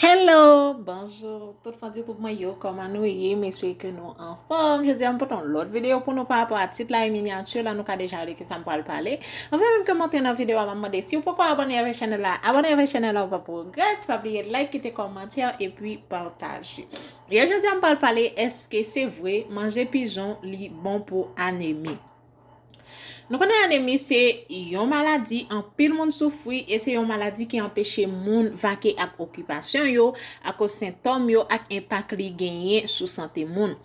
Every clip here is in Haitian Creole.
Hello bonjour tout fans youtube mwen yo koman nou ye m espere ke nou anfòm jodi a m pote yon lòt video pou nou pa rapò a tit la e miniature la nou ka deja wè de ki sa m pral pale anvan menm ke m antre nan video a m ap mande si ou poko abone avèk chanèl la abone avèk chanèl la ou pap regrèt pa bliye like kite kòmantè epi pataje e jodi a m pral pale eske se vre manje pijon li bon pou anemi Nou konnen anemi se yon maladi anpil moun soufri e se yon maladi ki anpeche moun vake ak okipasyon yo akoz sentòm yo ak enpak li genyen sou sante moun.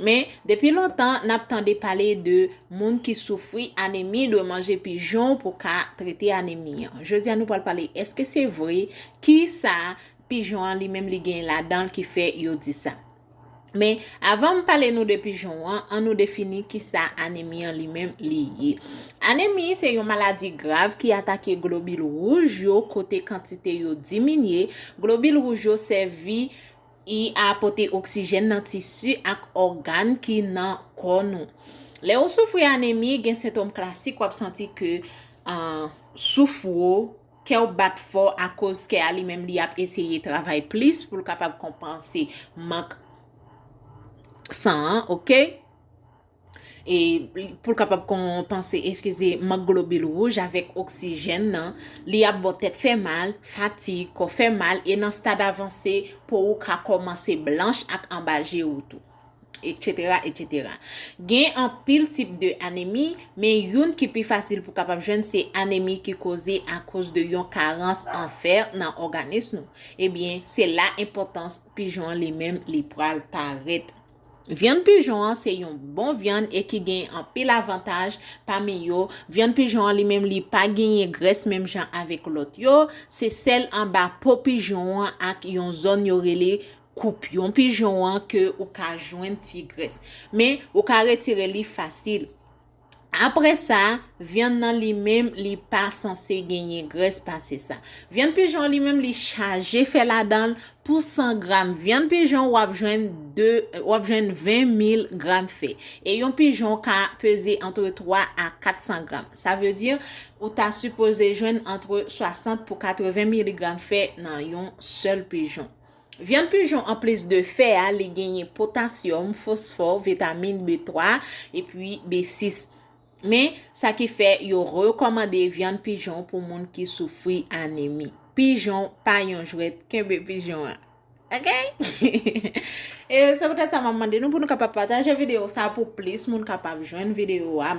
Men, depi lontan, n ap tande pale de moun ki soufri anemi dwe manje pijon pou ka trete anemi an. Jodi a nou pral pale èske se vre, ki sa pijon an li menm li genyen ladan l ki fè yo di sa. Men, avan m pale nou de pijon an, an nou defini kisa anemi an li menm li ye. Anemi se yon maladi grav ki atake globil wouj yo kote kantite yo diminye, globil wouj yo sèvi I a pote oksijèn nan tisi ak ògàn ki nan kò nou. Lè ou soufri anemi, gen sentom klasik wap santi ke souf wou. Kèw bat fò akoz kè a li menm li ap eseye travay plis poul kapab konpanse mank san an ok e poul kapab konpanse eskize mank globil wouj avèk oksijèn nan li ap bo tèt fè mal fatig kò fè mal e nan stad avanse po ou ka komanse blanch ak anba je ou tou. etc etc. Gen anpil tip de anemi, men youn ki pi fasil pou kapab jwenn se anemi ki koze akoz de yon karans an fè nan òganis nou. Ebyen, se la enpòtans pijon an li menm li pral parèt. Vyann pijon an se yon bon vyann e ki gen anpil avantaj, pami yo, vyann pijon an li menm li pa genyen grès menm jan avèk lòt yo, se sèl anba po pijon an ak yon zòn yo rele Koup yon pijon an ke ou ka jwenn ti grès. Men, ou ka retire li fasil. Apre sa, vyann nan li menm li pa sanse genyen grès pase sa. Vyann pijon an li menm li chaje fè ladan l, pou 100 gram vyann pijon w ap jwenn 2, w ap jwenn 20 mil gram fè. E yon pijon ka peze antre 3 a 400 gram. Sa vle di, ou ta sipoze jwenn antre 60 pou 80 miligram fè nan yon sèl pijon. Vyann pijon anplis de fè a li genyen potasyòm, fosfò, vitamin B3 epi B6. Men, sa ki fè yo rekòmande vyann pijon pou moun ki soufri anemi. Pijon pa yon jwèt, kenbe pijon an. Ok! E se poutèt sa m ap mande nou pou nou kapab pataje videyo sa pou plis moun kapab jwenn videyo a.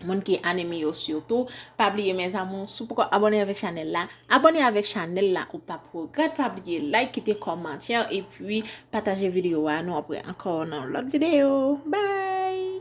Moun ki anemi yo sitou. Pa bliye mes amour si w poko abone avek chanel la. Abone avek chanel la ou pap regret. Pa bliye like kite komantye e pi pataje video a. Nou apre anko nan lot video. Bye.